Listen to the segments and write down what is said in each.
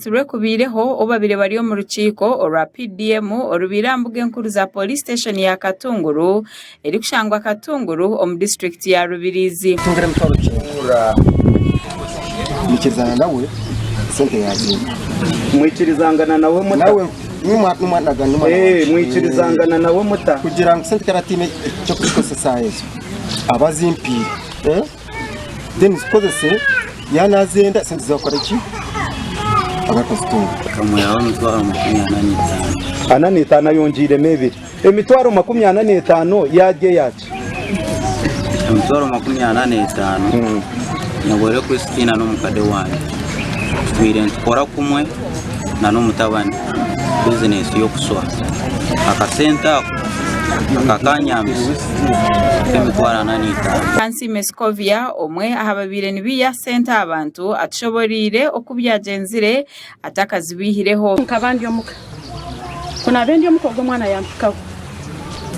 Obubatisibwe kubaireho obu babaire bari omu rukiiko orwa PDM orubaire aha mbuga enkuru za Police Station ya Katunguru erikushangwa Katunguru omu district ya Rubirizi. Mwikirizangana nawe muta? Mwikirizangana nawe muta? then zikozese yaaba naazenda sente zaakora ki aba akazitunga Nkamuhaho emitwaro makumi ana n'etaano. ana n'etaano ayongiiremu ebiri emitwaro makumi ana n'etaano yaarya yaaki Emitwaro makumi ana n'etaano nyehwere Christina n'omukade wangye twiire nitukora kumwe n'omutabani bizinesi y'okuswa. Akasente ako kakaba kanyambisa kuhika emitwaro ana n'etaano. Kansiime Scovia omwe aha babaire nibaiha sente aha bantu atushoboreire oku byagyenzire atakazibaihireho. Nkaba ndi omuka, ku naabe ndi omuka ogwo omwana yampikaho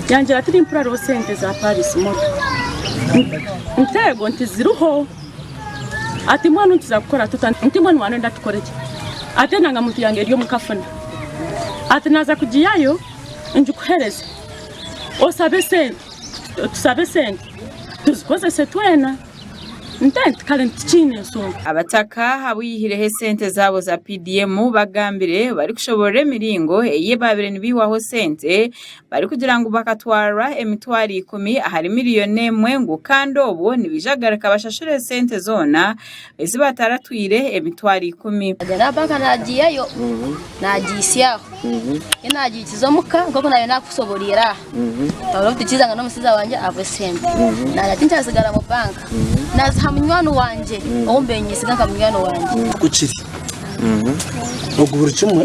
yangira tirimpuriraho sente za Paris motoka nteego nti ziriho. Ati, Mbwenu nituza kukora tuta? Nti, Mbwenu waanoyenda tukore ki? Ati, Endangamuntu yange eri omu kafuna. Ati, Naaza kugihayo ngikuhereze. Osabe sente. Tusabe sente tuzikozese twena. Nte, Nti, Kare tikiine nshonga. Abataka abaihireho esente zaabo za PDM bagambire barikushoboorora emiringo ei baabaire nibaihwaho sente barikugira ngu bakatwarwa emitwaro ikumi ahari miriyoni emwe ngu kandi obwo nibaija kugaruka bashashure sente zoona ezi bataratwire emitwaro ikumi. Agarabaga naagiihayo naagiitsyaho nyowe naagiikiza omuka nk'oku naabaire naakusoboreire aha nkabona obu tukiizanga n'omushaija wangye abwe esente nagira ati nikiratsigara mu banka naaziha munywani wangye ou mbaire nyesiga nka munywani wangye. Oku kiri ogu buri kimwe.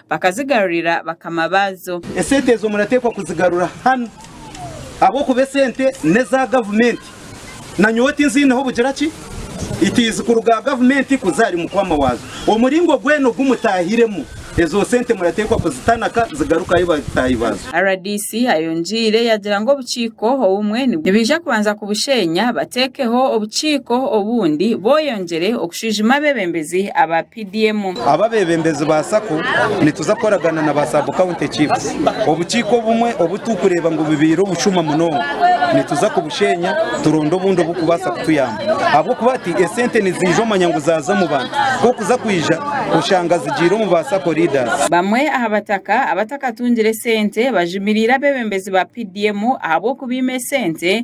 bakazigarurira bakama baazo. Esente ezo murateekwa kuzigarura hanu ahabw'okuba esente n'eza gavumenti, nanyowe tinziineho bugira ki itiizi kuruga aha gavumenti kuza ahari mukwama waazo. Omuringo gwena ogu mutaahiremu, ezo sente murateekwa kuzitanaka zigaruke ahari bataahi baazo. Rdc ayongiire yagira ngu obukiiko obumwe nibaija kubanza kubusheenya bateekeho obukiiko obundi boyongyere okushwijuma abebembezi abapya. PDM. Aba abebembezi ba sacco nituza kukoragana na ba sub county chiefs. Obukiiko obumwe obu turi kureeba ngu bubaire obushuma munonga nituza kubushenya turonde obundi obu kubaasa kutuyamba ahabw'okuba hati esente niziija omanya ngu zaaza omu bantu kwonka kuza kwija oshanga zigiire omu ba sacco leaders. Bamwe aha bataka abatakatungire sente bajumiriire abebembezi ba PDM ahabw'okubaima esente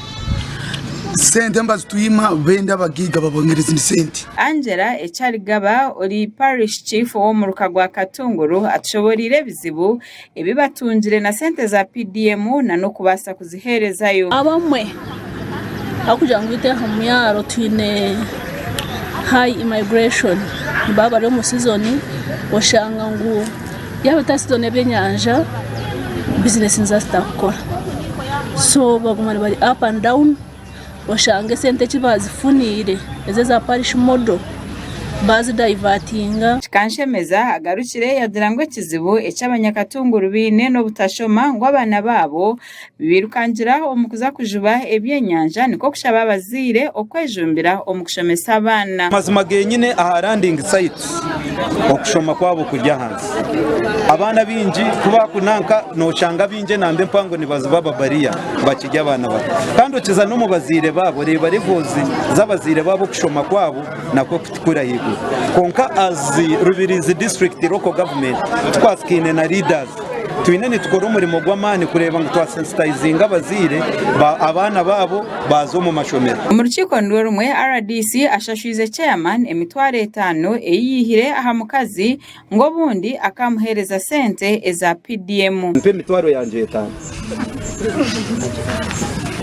Sente nibazitwima benda abagaiga babongere ezindi sente. Angella Ekyarigaba ori Parish Chief ow'omuruka gwa Katunguru atushoboreire ebizibu ebi batungire na sente za PDM na n'okubaasa kuziheerezayo. Abamwe ahabw'okugira ngu itwe aha mwaaro twine high immigration nibaba bari omu season oshanga ngu Yaaba otaasitoona ebyenyanja, bizinesi niziba zitarikukora. So baguma nibari up and down, oshange esente eki baazifuniire ezi eza parish model baazidayivatinga. Kikanshemeza agarukire yagira ngu ekizibu eki Abanyakatunguru baine n'obutashoma ngu abaana baabo bibairukangire aho omu kuza kujuba ebyenyanja nikwo kushaba abazaire okwejumbira omu kushomesa abaana. Amazima geenyine aha landing sites okushoma kwabo kuri ahansi. Abaana baingi ku baakunanka nooshanga baingi enamba empango nibaziba ababariya bakiri abaana bato. Kandi okiza n'omu bazaire baabo oreeba levels z'abazaire baabo okushoma kwabo nakwo kuti kuri ahaiguru. Kwonka as Rubirizi District Local Government tukwasikaine na leaders Twine nitukora omurimo gw'amaani kureeba ngu twasensitayizinga abazaire abaana baabo baaza omu mashomero. Omu rukiiko nirwo rumwe rdc ashashwize chairman emitwaro etaano ei yaihire aha mukazi ngu obundi akaamuheereza sente eza PDM. Mpa emitwaro yangye etaano.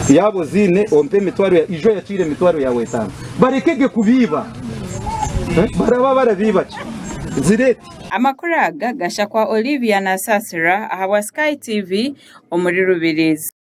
Yaaba oziine ompe emitwaro ya. Ijo yakiira emitwaro yaawe etaano. Barekege kubiiba. Baraba barabiiba ki? Zireeti. Amakuru aga gashakwa Olivia Nasasira ahabwa Sky TV omuri Rubirizi.